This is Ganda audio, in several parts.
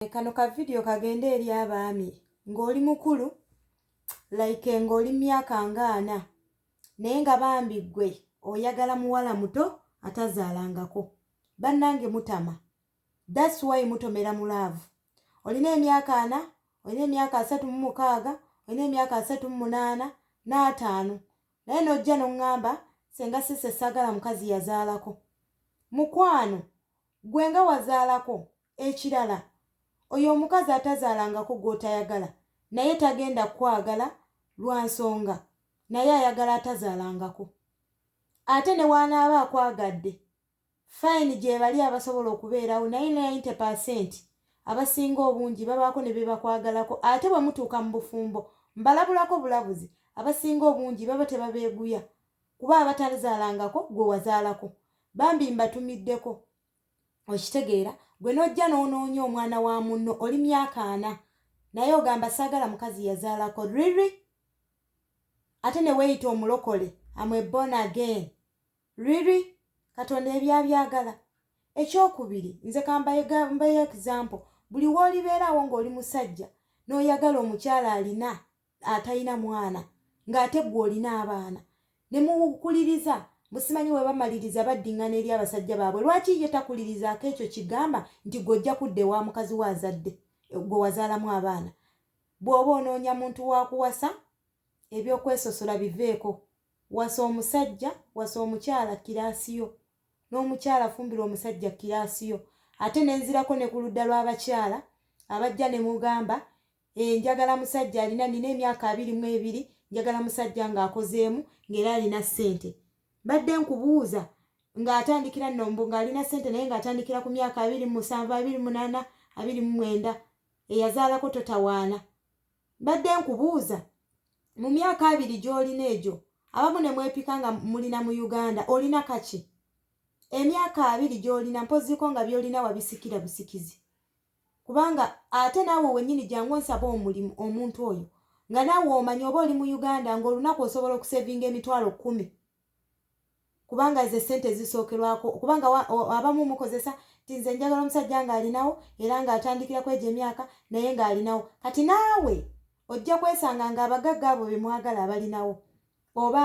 Eh, kano ka vidiyo kagende eri abaami ng'oli mukulu like ng'oli mumyaka ngaana naye nga bambi ggwe oyagala muwala muto atazaalangako bannange mutama thats why mutomera mu laavu olina emyaka ana olina emyaka asatu mu mukaaga olina emyaka asatu mu munaana n'ataano naye n'ojja n'oŋŋamba senga sise saagala mukazi yazaalako mukwano gwe nga wazaalako Ekirala oyo omukazi atazaalangako gw'otayagala naye tagenda kukwagala lwa nsonga naye ayagala atazaalangako. Ate ne w'anaaba akwagadde, fayini gyebali abasobola okubeerawo naye nainte paasenti abasinga obungi babaako ne bye bakwagalako ate bwe mutuuka mu bufumbo mbalabulako bulabuzi abasinga obungi baba tebabeeguya kuba abatazaalangako gwe wazaalako. Bambi mbatumiddeko okitegeera gwe nojja n'onoonya omwana wa munno oli myaka ana naye ogamba saagala mukazi yazaalako riri ate ne weeyita omulokole amwebon again riri katonda ebyabyagala ekyokubiri nze kambayegambayo example buli woolibeeraawo ng'oli musajja n'oyagala omukyala alina atalina mwana ng'ate gwe olina abaana ne mukuliriza busimanyi we bamaliriza baddingana eri abasajja baabwe lwaki ye takulirizaako ekyo kigamba nti gwe ojja kudda ewa mukazi we azadde gwe wazaalamu abaana bw'oba onoonya muntu wa kuwasa ebyokwesosola biveeko wasa omusajja wasa omukyala kiraasi yo n'omukyala afumbirwa omusajja kiraasi yo ate nenzirako ne ku ludda lw'abakyala abajja ne mugamba Eh, njagala musajja alina nina emyaka abiri mu ebiri njagala musajja ng'akozeemu ng'era alina ssente badde nkubuuza ng'atandikira nombu ng'alina ssente naye ng'atandikira ku myaka abiri mu musanvu abiri munaana abiri mu mwenda eyazaalako totawaana badde nkubuuza mu myaka abiri gy'olina egyo abamu ne mwepika nga mulina mu uganda olina kaki emyaka abiri gy'olina mpozziko nga by'olina wabisikira busikizi kubanga ate naawe wennyini jangu onsaba omulimu omuntu oyo nga naawe omanya oba oli mu uganda ng'olunaku osobola okusevinga emitwalo kkumi kubanga ze ssente zisookerwako kubanga abamu mukozesa ti nze njagala omusajja ng'alinawo era ng'atandikira kwejo emyaka naye ng'alinawo kati naawe ojja kwesanga ng'abagagga abo be mwagala abalinawo oba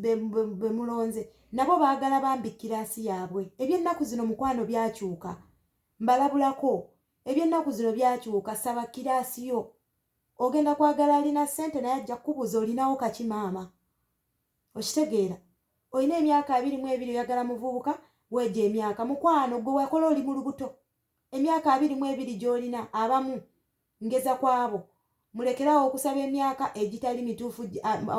be mulonze nabo baagala bambi kiraasi yaabwe eby'ennaku zino mukwano byakyuka Mbalabulako, eby'ennaku zino byakyuka, saba kiraasi yo. Ogenda kwagala alina ssente naye ajja kukubuuza olinawo kaki maama. Okitegeera? Olina emyaka abiri mu ebiri oyagala muvubuka, weegye emyaka. Mukwano, ggwe wakola oli mu lubuto. Emyaka abiri mu ebiri gy'olina abamu ngeza kwabo mulekerawo okusaba emyaka egitali mituufu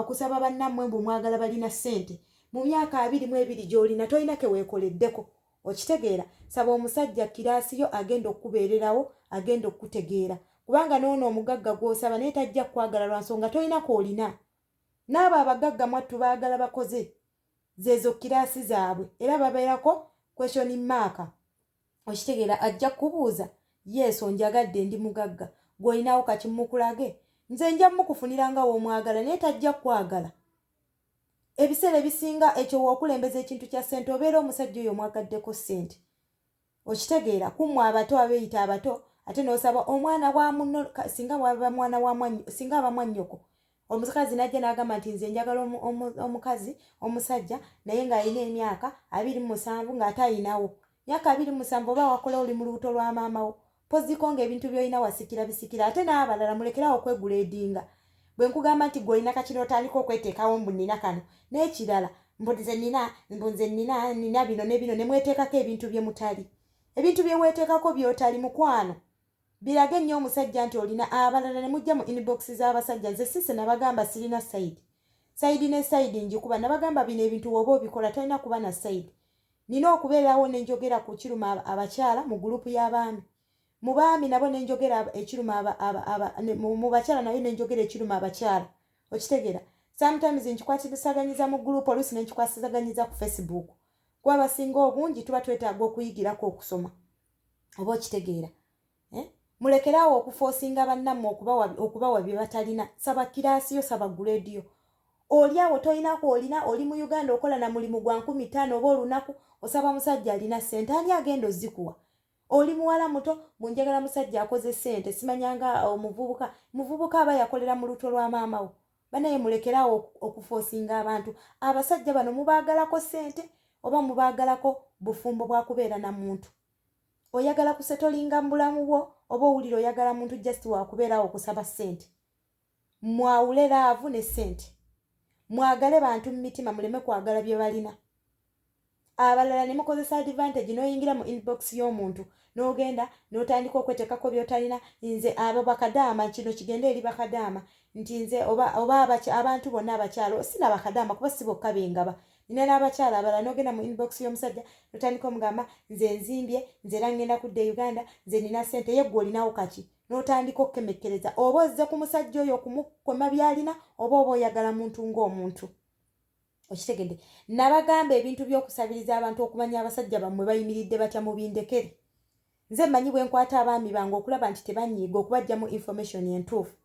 okusaba bannammwe mbu mwagala balina ssente mu myaka abiri mu ebiri gy'olina tolina keweekoleddeko okitegeera saba omusajja kiraasi yo agenda okukubeererawo agenda okukutegeera kubanga noono omugagga gw'osaba naye tajja kukwagala lwa nsonga tolina kwolina n'abo abagagga mwattu baagala bakoze zeezo kiraasi zaabwe era babeerako kweshoni maaka okitegeera ajja kukubuuza yesu onjagadde ndi mugagga gw'olinawo kati mukulage nze nja mukufunira nga w'omwagala naye tajja kukwagala ebiseera ebisinga ekyo w'okulembeza ekintu kya ssente obeera omusajja oyo omwagaddeko ssente okitegeera kummwe abato abeeyita abato ate n'osaba omwana wa muno singa waba mwana wa mwannyo singa aba mwannyoko omukazi najja n'agamba nti nze njagala omukazi omusajja naye ng'alina emyaka abiri musanvu ng'ate ayinawo myaka abiri musanvu oba wakola oli mu lubuto lwa maamawo poziko ng'ebintu byolina wasikira bisikira ate n'abalala mulekerawo okwegula edinga bwe nkugamba nti gwe olina kakino otandika okweteekawo mbu nina kano n'ekirala mbu nze nina mbu nze nina nina bino ne bino ne mweteekako ebintu bye mutali ebintu bye weeteekako by'otali mukwano Birage nyo omusajja nti olina abalala ne mujja mu inbox za basajja nze sise nabagamba silina side side ne side njikuba nabagamba bino ebintu woba obikola tolina kuba na side nina okubeerawo ne njogera ku kiruma abakyala mu group ya baami mu baami nabo ne njogera ekiruma aba, aba, aba, ne, mu, mu bakyala nayo ne njogera ekiruma abakyala okitegera sometimes nkikwatisaganyiza mu group olusi ne nkikwasizaganyiza ku facebook kuba basinga obungi tuba twetaaga okuyigirako okusoma oba okitegeera eh? mulekeraawo okufoosinga bannammwe okubawa bye batalina saba kiraasi yo saba guleedi yo oli awo tolinaku olina oli mu uganda okola na mulimu gwa nkumi taano oba olunaku osaba musajja alina ssente ani agenda ozikuwa oli muwala muto munjagala musajja akoze ssente simanyanga omuvubuka muvubuka aba yakolera mu luto lwa maamawo banaye mulekere awo okufosinga abantu abasajja bano mubaagalako sente oba mubaagalako bufumbo bwakubeera na muntu oyagala kusetolinga mu bulamu bwo oba owulira oyagala muntu just wakubeerawo okusaba sente mwawule laavu ne sente mwagale bantu mu mitima muleme kwagala bye balina abalala ne mukozesa advantage n'oyingira mu inbox y'omuntu n'ogenda n'otandika okweteekako by'otalina nze abo bakadaama kino kigende eri bakadaama nti nze oba abantu bonna abakyalo sina bakadaama kuba si bokka bengaba nina n'abakyala abalala n'ogenda mu inbox y'omusajja n'otandika omugamba nze nzimbye nze era ngenda kudda e uganda nze nina ssente ye gwe olinawo kaki n'otandika okukemekkereza oba ozze ku musajja oyo okumukoma byalina oba oba oyagala muntu ng'omuntu okitegedde nabagamba ebintu byokusabiriza abantu okumanya abasajja bammwe bayimiridde batya mubindekere nze mmanyi bwe nkwata abaami bange okulaba nti tebanyiiga okubajjamu information entuufu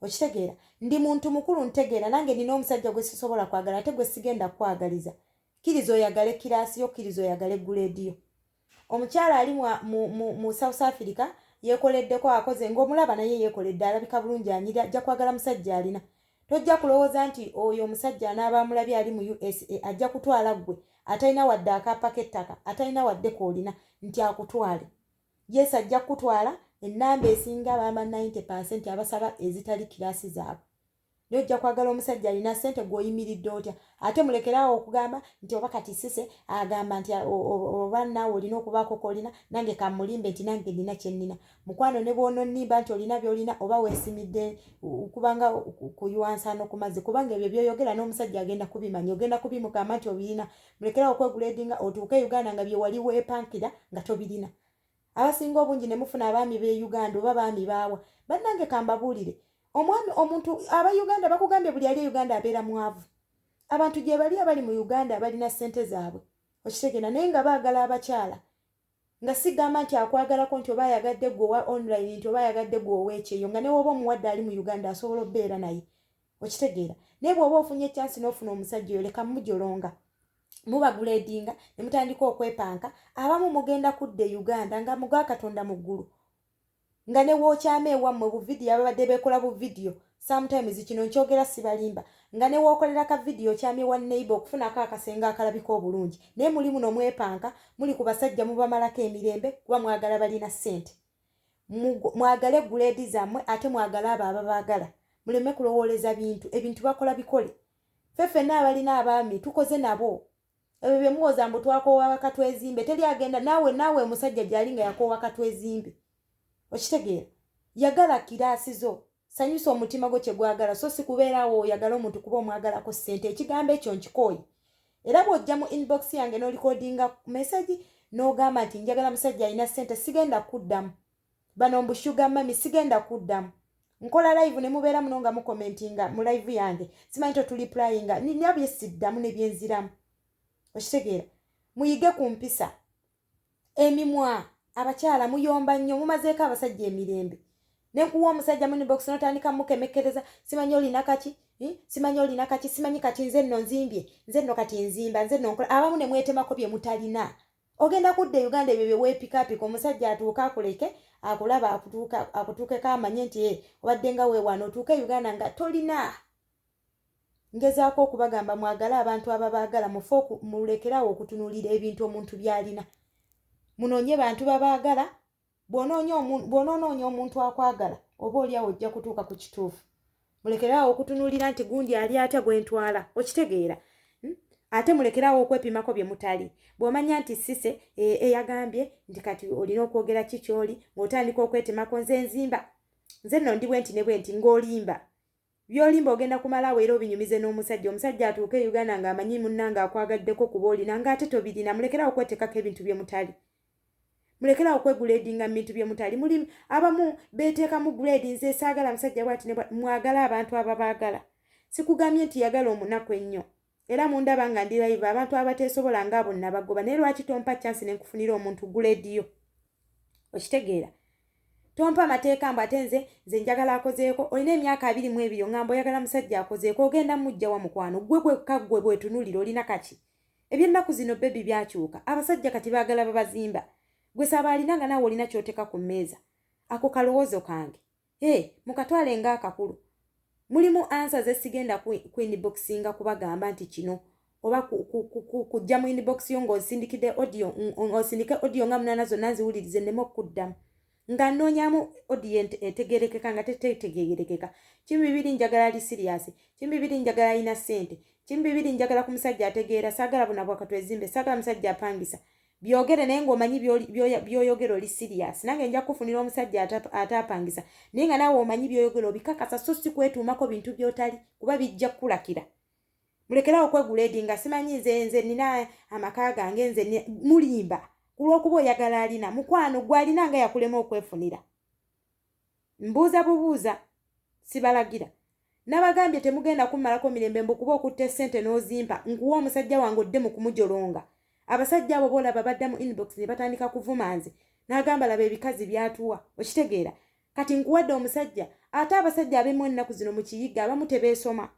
okitegeera ndi muntu mukulu ntegeera nange nina omusajja gwe sisobola kwagala ate gwe sigenda kukwagaliza kkiriza oyagale kiraasi yo kkiriza oyagale guleediyo omukyala ali mu south africa yekoleddeko akoze ngaomulaba naye yekoledde alabika bulungi anyira ajja kwagala musajja alina tojja kulowooza nti oyo omusajja anaaba amulabye ali mu usa ajja kutwala ggwe atalina wadde akaapa k'ettaka atalina wadde koolina nti akutwale yesu ajja kukutwala ennamba esinga baama 90 percent abasaba ezitali kiraasi zaabwe naye ojja kwagala omusajja alina sente gweoyimiridde otya ate mulekeraawo okugamba nti oba kati sise agamba nti oba naawe olina okubaako kolina nange kamulimbe nti nange nina kyenina mukwano ne bwononimba nti olina byolina oba wesimidde kubanga kuywansaano ku mazzi kubanga ebyo byoyogera n'omusajja agenda kubimanya ogenda kubimugamba nti obirina mulekeraawo okweguleedinga otuuke e uganda nga byewali weepankira nga tobirina abasinga obungi ne mufuna abaami b'e uganda oba baami baawa bannange kambabuulire omwami omuntu aba uganda bakugambye buli ali e uganda abeera mwavu abantu gye bali abali mu uganda abalina ssente zaabwe okitegera naye nga baagala abakyala nga sigamba nti akwagalako nti oba ayagadde gwe owa online nti oba ayagadde gwe oweekyeyo nga newooba omuwadde ali mu uganda asobola obubeera naye okitegeera naye bw'oba ofunye ekyansi n'ofuna omusajja oyo leka mujolonga mubagula edinga ne mutandika okwepanka abamu mugenda kudda e uganda nga muga katonda mu ggulu nga ne wookyama ewammwe buvidiyo ababadde beekola buvidiyo sometimes kino nkyogera sibalimba nga ne wookolera ka vidiyo okyamye wa neighbor okufunako akasenga akalabika obulungi naye muli muno mwepanka muli ku basajja mubamalako emirembe kuba mwagala balina ssente mwagale guleedi zammwe ate mwagale abo ababaagala muleme kulowooleza bintu ebintu bakola bikole fe fenna abalina abaami tukoze nabo ebyo bye muwoza mbu twakoowa bakatwezimbe teri agenda naawe naawe omusajja gyali nga yakoowa katwezimbe okitegeera yagala kiraasi zo sanyusa omutima gwo kye gwagala so si kubeeraawo oyagala omuntu kuba omwagalako ssente ekigambo ekyo nkikooyi era bw'ojja mu inbox yange n'olikodinga mesagi n'ogamba nti njagala musajja alina ssente sigenda kuddamu bano mbushuga mami sigenda kuddamu nkola live ne mubeera muno nga mukomentinga mu live yange simanyi totuliplayinga nina byesiddamu ne byenziramu okitegeera muyige ku mpisa emimwa abakyala muyomba nnyo mumazeeko abasajja emirembe nekuwa omusajja munibox notandika mukemekkereza simanyi olina kaki hm? simanyi olina kaki simanyi kati nze nno nzimbye nze nno kati nzimba nze nno nkola abamu ne mwetemako bye mutalina ogenda kudda e uganda ebyo byewepikapika omusajja atuuka akuleke akulaba akutuukeko amanye nti eh, obadde nga wewaana otuuka e uganda nga tolina ngezaako okubagamba mwagale abantu ababaagala mufe mulekeraawo okutunuulira ebintu omuntu byalina munoonye bantu babaagala bwonoonoonya omuntu akwagala oba oliawo ojja kutuuka ku kituufu mulekeraawo okutunuulira nti gundi ali atya gwentwala okitegeera hmm? ate mulekeraawo okwepimako bye mutali bw'omanya nti sise e, eyagambye nti kati olina okwogera ki kyoli ng'otandika okwetemako nze nzimba nze nno ndi bwenti ne bwenti ng'olimba Byolimba ogenda kumala awo era obinyumize n'omusajja. Omusajja atuuke e Uganda ng'amanyi munnange akwagaddeko kuba olina ng'ate tobirina. Mulekere awo okweteekako ebintu bye mutali. Mulekere awo okweguleedinga mu bintu bye mutali. Muli abamu beeteekamu guleedi nze saagala musajja bwati ne bwati. Mwagale abantu ababaagala. Sikugambye nti yagala omunaku ennyo. Era mundaba nga ndi live abantu abateesobola nga abo nabagoba naye lwaki tompa chance ne nkufunira omuntu gulediyo okitegeera tompa amateeka mbu ate nze nze njagala akozeeko olina emyaka abiri mu ebiri ongamba oyagala musajja akozeeko ogenda mujja wa mukwano gwe gwekka gwe bwetunulira olina kaki ebyennaku zino bebi byakyuka abasajja kati baagala babazimba gwe saaba alina nga naawe olina kyoteka ku mmeeza ako kalowoozo kange Hey, mukatwale nga akakulu mulimu ansa zesigenda ku inboxinga kubagamba nti kino oba kujja mu inbox yo ngaosindikide audio osindike audio nga munana zonna nziwulirize neme okukuddamu nga noonyamu audio etegerekeka nga tetetegerekeka kimu bibiri njagala ali siriyasi kimu bibiri njagala alina sente kimu bibiri njagala ku musajja ategeera saagala bunabwakatwezimbe saagala musajja apangisa byogere naye ng'omanyi byoyogera oli sirias nange nja kukufunira omusajja ataapangisa naye nga naawe omanyi byoyogera obikakasa so si kwetuumako bintu byotali kuba bijja kukulakira mulekerawo okwegula edi nga simanyi nze nze nina amaka gange nze mulimba ku lw'okuba oyagala alina mukwano gwe alina nga yakulema okwefunira mbuuza bubuuza sibalagira nabagambye temugenda kummalako mirembe mbu kuba okutta essente n'ozimpa nkuwa omusajja wange odde mu kumujolonga abasajja abo boolaba badda mu inbox ne batandika kuvuma nze n'agamba laba ebikazi byatuwa okitegeera kati nkuwadde omusajja ate abasajja abemu ennaku zino mu kiyigga abamu tebeesoma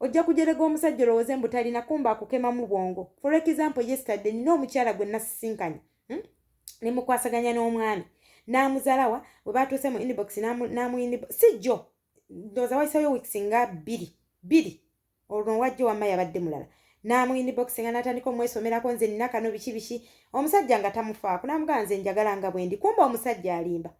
ojja kujerega omusajja olowooze mbu talina kumba akukemamu bwongo for example yesterday nina omukyala gwe nasisinkanye hmm? ne mukwasaganya n'omwami n'amuzalawa we baatuuse mu inbox n'amu inbox si jjo ndooza wayisayo weeks nga bbiri bbiri olwo wajjo wamma yabadde mulala n'amu inbox nga n'atandika omwesomerako nze nina kano biki biki omusajja nga tamufaako n'amugaa nze njagala nga bwendi kumba omusajja alimba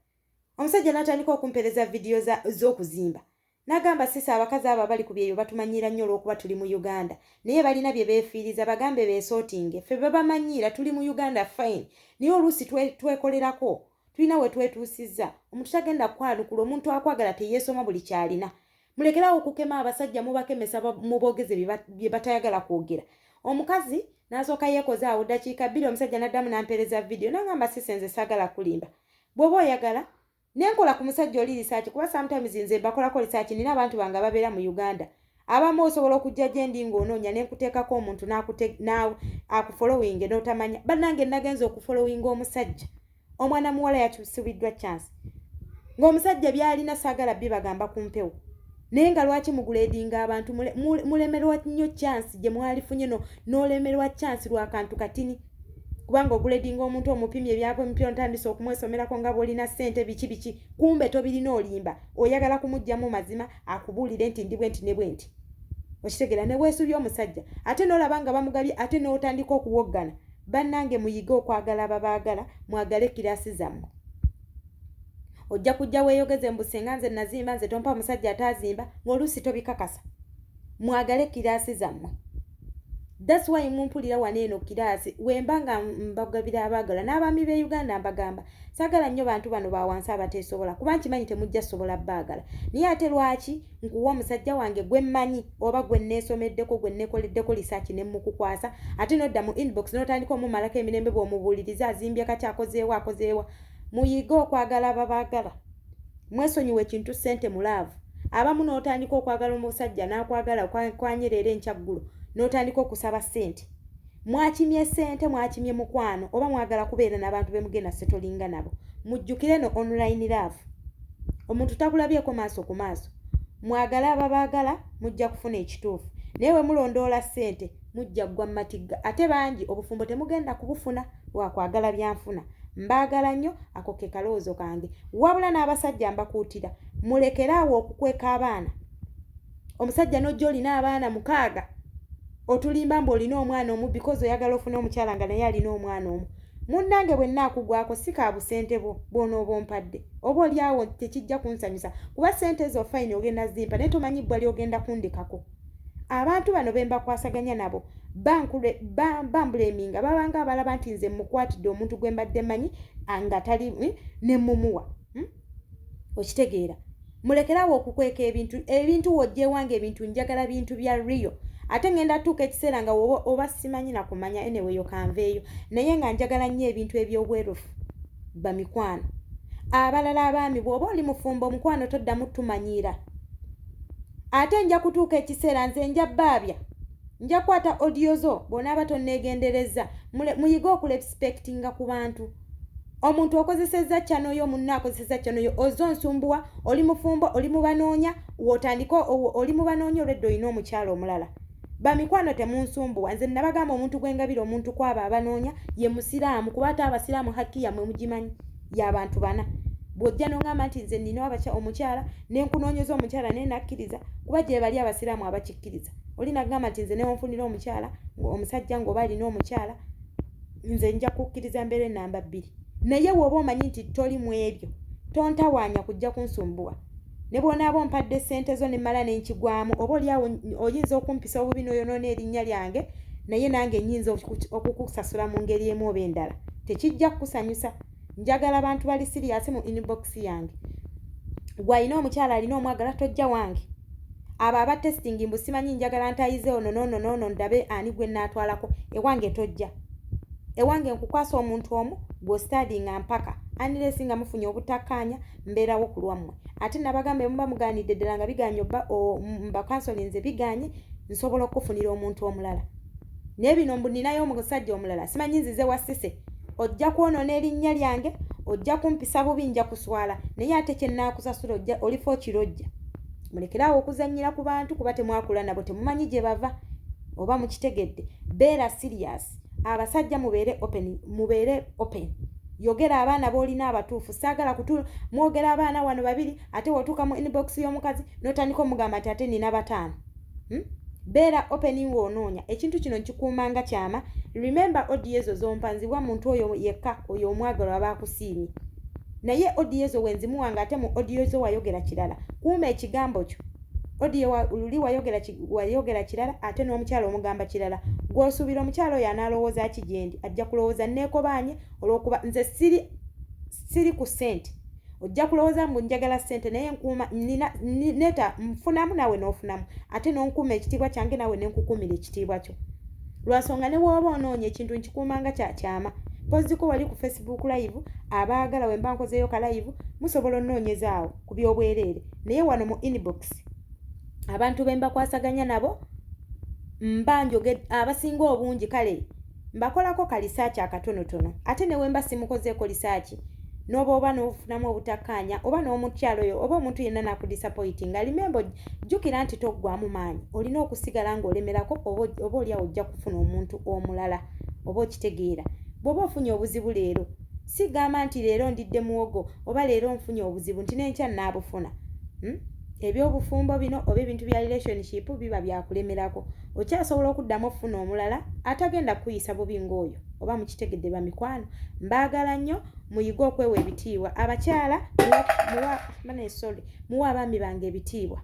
omusajja n'atandika okumpereza vidiyo z'okuzimba Nagamba sisi abakazi abo abali ku byeyo batumanyiira nnyo olw'okuba tuli mu Uganda naye balina bye beefiiriza bagambe beesootinge ffe babamanyiira tuli mu Uganda fine naye oluusi twekolerako tulina we twetuusizza omuntu tagenda kukwanukula omuntu akwagala teyeesoma buli kyalina mulekerawo okukema abasajja mubakemesa muboogeze bye batayagala kwogera omukazi n'asooka yeekoze awo ddakiika bbiri omusajja n'addamu n'ampeereza vidiyo nangamba sisi nze saagala kulimba bw'oba oyagala nenkola ku musajja oli lisaaki kuba sometimes nze bakolako lisaaki nina abantu bange ababeera mu uganda abamu osobola okujja gye ndi ng'onoonya ne nkuteekako omuntu akufolowinge n'otamanya bannange nagenza okufolowinga omusajja omwana muwala yakyusibiddwa chance ng'omusajja byalina saagala bibagamba ku mpewo naye nga lwaki muguleedinga abantu mulemerwa nnyo chansi gye mwalifunye no n'olemerwa chansi lwa kantu katini kubanga oguleedinga omuntu omupimye ebyapa emipya ontandise okumwesomerako nga bwolina ssente biki biki kumbe tobirina olimba oyagala kumugjamu mazima akubuulire nti ndi bwe nti ne bwe nti okitegera ne weesubya omusajja ate n'olaba nga bamugabye ate n'otandika okuwoggana Bannange muyige okwagala ababaagala mwagale kiraasi zammwe. Ojja kujja weeyogeze mbu singa nze nazimba nze tompa musajja ataazimba ng'oluusi tobikakasa. Mwagale kiraasi zammwe. That's why mumpulira wano eno kiraasi wemba nga mbagabira abaagala n'abaami b'e Uganda mbagamba saagala nnyo bantu bano ba wansi abateesobola kuba nkimanyi temujja sobola baagala naye ate lwaki nkuwa omusajja wange gwe mmanyi oba gwe nneesomeddeko gwe nneekoleddeko lisaaki ne mmukukwasa ate n'odda mu inbox n'otandika omumalako emirembe bw'omubuuliriza azimbye kaki akozeewo akozeewa muyige okwagala ababaagala mwesonyiwa ekintu ssente mu laavu abamu n'otandika okwagala omusajja n'akwagala kwanyera era enkyaggulo n'otandika okusaba ssente mwakimye sente mwakimye mukwano oba mwagala kubeera nabantu bemugenda setolinga nabo mujjukire no online love omuntu takulabyeko maaso ku maaso mwagala ababaagala mujja kufuna ekituufu naye wemulondoola sente mujja ggwa matigga ate bangi obufumbo temugenda kubufuna wakwagala byanfuna mbaagala nnyo ako ke kalowoozo kange wabula n'abasajja mbakuutira mulekeraawo okukweka abaana omusajja n'ojja olina abaana mukaaga otulimba mbu olina omwana omu because oyagala ofuna omukyala nga naye alina omwana omu munnange bwe nnaakugwako si ka busente bwo bw'onooba ompadde oba oli awo tekijja kunsanyusa kuba ssente ezo fayini ogenda zimpa naye tomanyi bbwa lyogenda kundekako abantu bano be mbakwasaganya nabo bambuleminga babanga abalaba nti nze mmukwatidde omuntu gwe mbadde manyi nga tali ne mmumuwa okitegeera mulekerawo okukweka ebintu ebintu wojjewange ebintu njagala bintu bya rio ate ngenda tuuka ekiseera nga oba simanyi nakumanya eneweyo kanveeyo naye nga njagala nnyo ebintu ebyobwerufu bamikwano abalala abaami bwoba oli mufumbo omukwano toddamu tumanyiira ate nja kutuuka ekiseera nze nja baabya nja kukwata odiyo zo bwonaaba tonneegenderezza muyige okulepsipekitinga ku bantu omuntu okozesezza kyano yo munna akozesezza kyano yo oze onsumbuwa oli mufumbo oli mubanoonya wotandika oli mubanoonya olwedda olina omukyalo omulala bamikwano temunsumbuwa nze nabagamba omuntu gwengabira omuntu kwabo abanoonya ye musiraamu kuba ate abasiraamu hakki yamwe mugimanyi yabantu bana bwojja nongamba nti nze nina abaky omukyala nenkunoonyeza omukyala naye nakkiriza kuba gyebali abasiraamu abakikkiriza oli nagamba nti nze newonfunira omukyala omusajja ngaoba alina omukyala nze nja kukkiriza mbeere namba bbiri naye wooba omanyi nti toli mu ebyo tontawaanya kujja kunsumbuwa ne bw'onaaba ompadde ssente zo ne mmala n'enkigwamu oba oli awo oyinza okumpisa obubi n'oyonoona erinnya lyange naye nange nnyinza okukusasula mu ngeri emu oba endala tekijja kukusanyusa njagala bantu bali siriyasi mu inbox yange gwe alina omukyala alina omwagala tojja wange abo aba testing mbu simanyi njagala ntayize ono nono nono ndabe ani gwe naatwalako ewange tojja ewange nkukwasa omuntu omu gwostadi nga mpaka anilesi nga mufunye obutakkaanya mbeerawo ku lwammwe ate nabagamba emuba mugaanidde ddala nga biganye oba mbakansolinze biganye nsobola okukufunira omuntu omulala naye bino mbu ninayo omusajja omulala simanyi nzize wasise ojja kwonona erinnya lyange ojja kumpisa bubi nja kuswala naye ate kyenaakusasula ojja olifa okirojja mulekeraawo okuzannyira ku bantu kuba temwakula nabo temumanyi gye bava oba mukitegedde beera sirias abasajja mubeere open mubeere open yogera abaana boolina abatuufu saagala kutu mwogera abaana wano babiri ate wotuuka mu inbox y'omukazi notandika omugamba nti ate nina bataano hmm? beera open nga onoonya ekintu kino nkikuuma nga kyama remember odi ezo zompa nziwa muntu oyo yekka oyo omwagalo aba akusiimye naye odi ezo wenzimuwa nga ate mu odiyo zo wayogera kirala kuuma ekigambo kyo odiyo luli wayogera kirala ate n'omukyalo omugamba kirala gwosuubira omukyalo oyo anaalowooza ki gyendi ajja kulowooza neekobaanye olwokuba nze siri siri ku sente ojja kulowooza mbu njagala ssente naye nkuuma neta nfunamu naawe n'ofunamu ate n'onkuuma ekitiibwa kyange naawe ne nkukuumira ekitiibwa kyo lwansonga ne wooba onoonya ekintu nkikuumanga kya kyama poziko wali ku facebook live abaagala we mba nkozeeyo ka live musobola onoonyezaawo ku by'obwereere naye wano mu inbox abantu be mbakwasaganya nabo mba njoged abasinga obungi kale Mbakolako ka lisaaki akatonotono ate ne wemba simukozeeko lisaaki n'oba oba n'ofunamu obutakkaanya oba n'omukyalo oyo oba omuntu yenna n'akudisapoyitinga limembo jjukira nti toggwamu maanyi olina okusigala ng'olemerako oba oliawo ojja kufuna omuntu omulala oba okitegeera bw'oba ofunye obuzibu leero sigamba nti leero ndidde muwogo oba leero nfunye obuzibu nti n'enkya nnaabufuna hmm? eby'obufumbo bino oba ebintu bya relationship biba byakulemerako okyasobola okuddamu okufuna omulala atagenda kukuyisa bubi ng'oyo oba mukitegedde bamikwano mbaagala nnyo muyige okwewa ebitiibwa abakyala muwabanesole muwa abaami bange ebitiibwa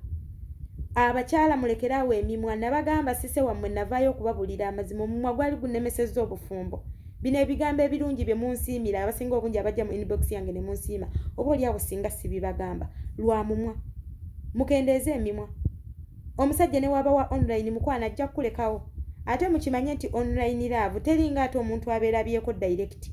abakyala mulekere awo emimwa nabagamba sise wammwe navaayo okubabulira amazima omumwa gwali gunemesezza obufumbo bino ebigambo ebirungi bye munsiimira abasinga obungi abajja mu inbox yange ne munsiima oba oli awo singa sibibagamba lwa mumwa mukendeeze emimwa Omusajja ne waba wa online mukwano ajja kukulekawo ate mukimanye nti online love teringa ate omuntu aberabyeko direct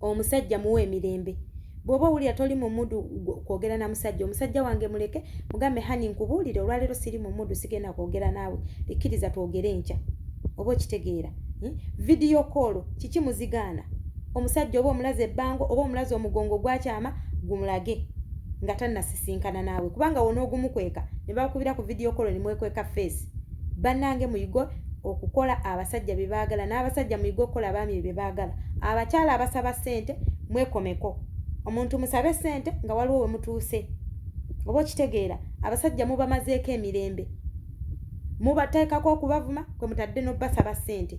omusajja muwa emirembe bwoba owulira toli mu mudu kwogera na musajja omusajja wange muleke mugambe hani nkubuulire olwaleero siri mu mudu sigenda kwogera naawe ekkiriza twogere enkya oba okitegeera hmm? vidiyo koolo kiki muzigaana omusajja oba omulaze ebbango oba omulaze omugongo gwakyama gumulage nga tannasisinkana naawe kubanga wona ogumukweka ne bakubira ku vidiyo kolo ne mwekweka feesi bannange muyige okukola abasajja bye baagala n'abasajja muyige okukola abaami ebyo bye baagala abakyala abasaba ssente mwekomeko omuntu musabe ssente nga waliwo we mutuuse oba okitegeera abasajja mubamazeeko emirembe mubateekako okubavuma kwe mutadde n'obbasaba ssente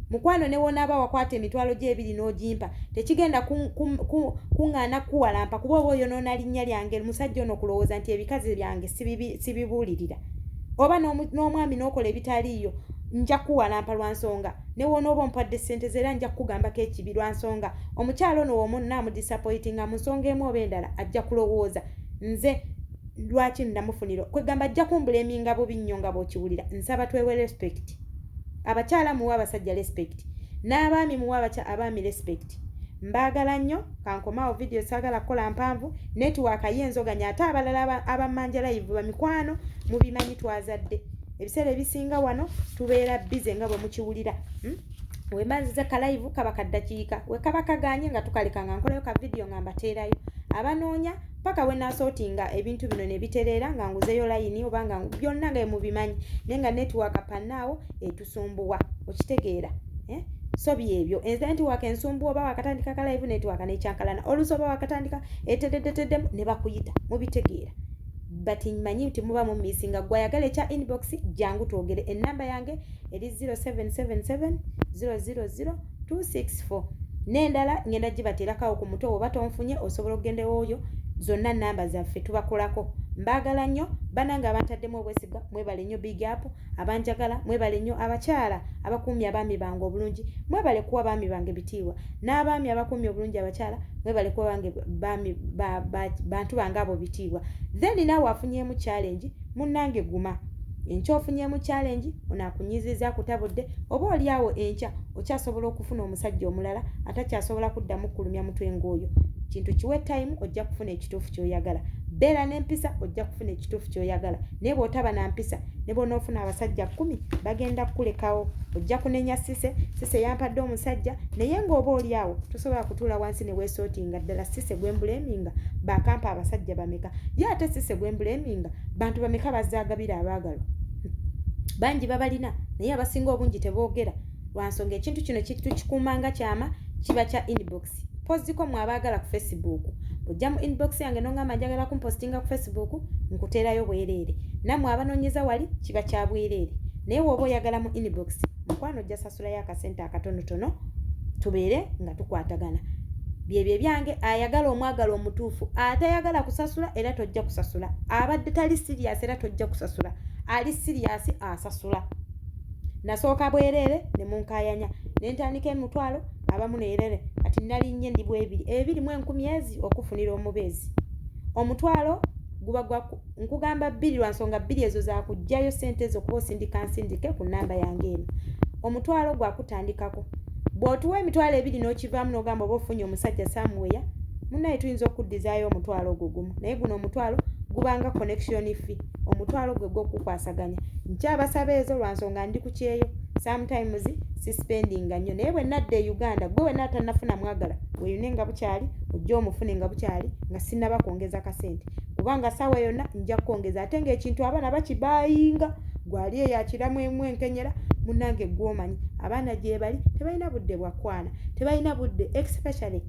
Mukwano newonaaba wakwata emitwalo gyo ebiri n'ogimpa tekigenda kuŋŋaana kukuwalampa kuba oba oyonoona linnya lyange musajja ono kulowooza nti ebikazi byange sibibuulirira oba n'omwami n'okola ebitaliiyo nja kukuwalampa lwa nsonga newoonooba ompadde ssente ze era nja kukugambako ekibi lwa nsonga omukyala ono womunna amudisapoyitinga mu nsonga emu oba endala ajja kulowooza nze lwaki namufuniro kwegamba ajja kumbuleminga bubi nnyo nga bwokiwulira nsaba twewe respect abakyala muwa abasajja respect n'abaami muwa abaky abaami respect mbaagala nnyo kankomaawo vidiyo saagala kukola mpanvu netiwaaka ye enzoganya ate abalala abamanja layivu bamikwano mubimanyi twazadde ebiseera ebisinga wano tubeera bize nga bwe mukiwulira hmm? wemanziza kalayivu kaba kaddakiika wekaba kaganye nga tukaleka nga nkolayo ka vidiyo nga mbateerayo abanoonya paka wenasotinga ebintu bino nebitereera nga nguzeyo layini oba nga byonna nga emubimanyi naye nga netiwaka panaawo etusumbuwa okitegeera eh? so byebyo enze netiwaka ensumbuwa oba wakatandika kalaivu netiwaka nekyankalana olusi oba wakatandika etededeteddemu ne bakuyita mubitegeera but manyi nti muba mumisi nga gwayagala ekya inbox jangu twogere enamba yange eri 0777 000 264 n'endala ngenda gibateerakawo ku mutwe woba tonfunye osobola okugenda ewooyo zonna namba zaffe tubakolako mbaagala nnyo banange abantaddemu obwesigwa mwebale nnyo big up abanjagala mwebale nnyo abakyala abakuumye abaami bange obulungi mwebale kuwa baami bange bitiibwa n'abaami abakuumye obulungi abakyala mwebale kuwa bange bantu bange abo bitiibwa then naawe afunyeemu challenge Munnange guma. Enkya ofunyemu challenge, ono akunyiizizza akutabudde, oba oli awo enkya okyasobola okufuna omusajja omulala atakyasobola kuddamu kukulumya mutwe ng'oyo. Kintu kiwe time ojja kufuna ekituufu ky'oyagala. Beera n'empisa ojja kufuna ekituufu ky'oyagala naye bw'otaba na mpisa ne bw'onoofuna abasajja kkumi bagenda kukulekawo. Ojja kunenya Cissy, Cissy yampadde omusajja naye ng'oba oli awo tosobola kutuula wansi ne weesootinga. ddala sise gwembuleminga bakampa abasajja bameka ye ate sise gwembuleminga bantu bameka bazagabira abaagalwa bangi babalina naye abasinga obungi teboogera lwansonga ekintu kino kitukikuuma nga kyama kiba kya inbox poziko mwe abaagala ku facebook ojja mu inbox yange nongamba njagala kumpostinga ku facebook nkuteerayo bwereere nammwe abanoonyeza wali kiba kya bwereere naye wooba oyagala mu inbox mukwano ojjasa tusulayo akasente akatonotono tubeere nga tukwatagana byebyo ebyange ayagala omwagala omutuufu atayagala kusasula era tojja kusasula abadde tali siriyasi era tojja kusasula ali siriyasi asasula nasooka bwereere ne munkayanya ne ntandika emitwalo abamu neerere kati nalinnye ndi bwebiri ebiri mu enkumi ezi okufunira omubeezi omutwalo guba gwa nkugamba bbiri lwa nsonga bbiri ezo za kuggyayo ssente ezo kuba osindika nsindike ku nnamba yange eno omutwalo gwa kutandikako bw'otuwa emitwalo ebiri n'okivaamu n'ogamba oba ofunye omusajja samuweya munaye tuyinza okuddizaayo omutwalo ogwo gumu naye guno omutwalo gubanga connection fee omutwalo gwe gw'okukwasaganya nkyabasaba ezo lwa nsonga ndi ku kyeyo sometimes sispendinga nnyo naye bwe nadda e uganda gwe wena atanafuna mwagala weyune nga bukyali ojja omufune nga bukyali nga sinaba kwongeza kasente kubanga saawa yonna nja kukwongeza ate ng'ekintu abaana bakibayinga gwali eyo akiramwemu enkenyera munange gwomanyi abaana gyebali tebalina budde bwakwana tebalina budde especially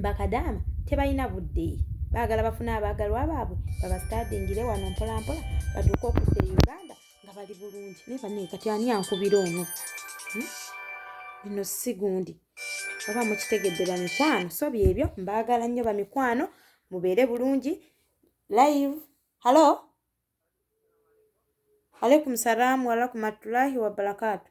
bakadaama tebalina budde baagala bafune abaagalwa baabwe babastadingire wano mpolampola batuuka okudda e uganda nga bali bulungi naye banaye kati ani ankubira ono hmm? bino sigundi oba mukitegedde bamikwano so byebyo mbaagala nnyo bamikwano mubeere bulungi live hallo aleikum salaamu warakumatulahi wabarakatu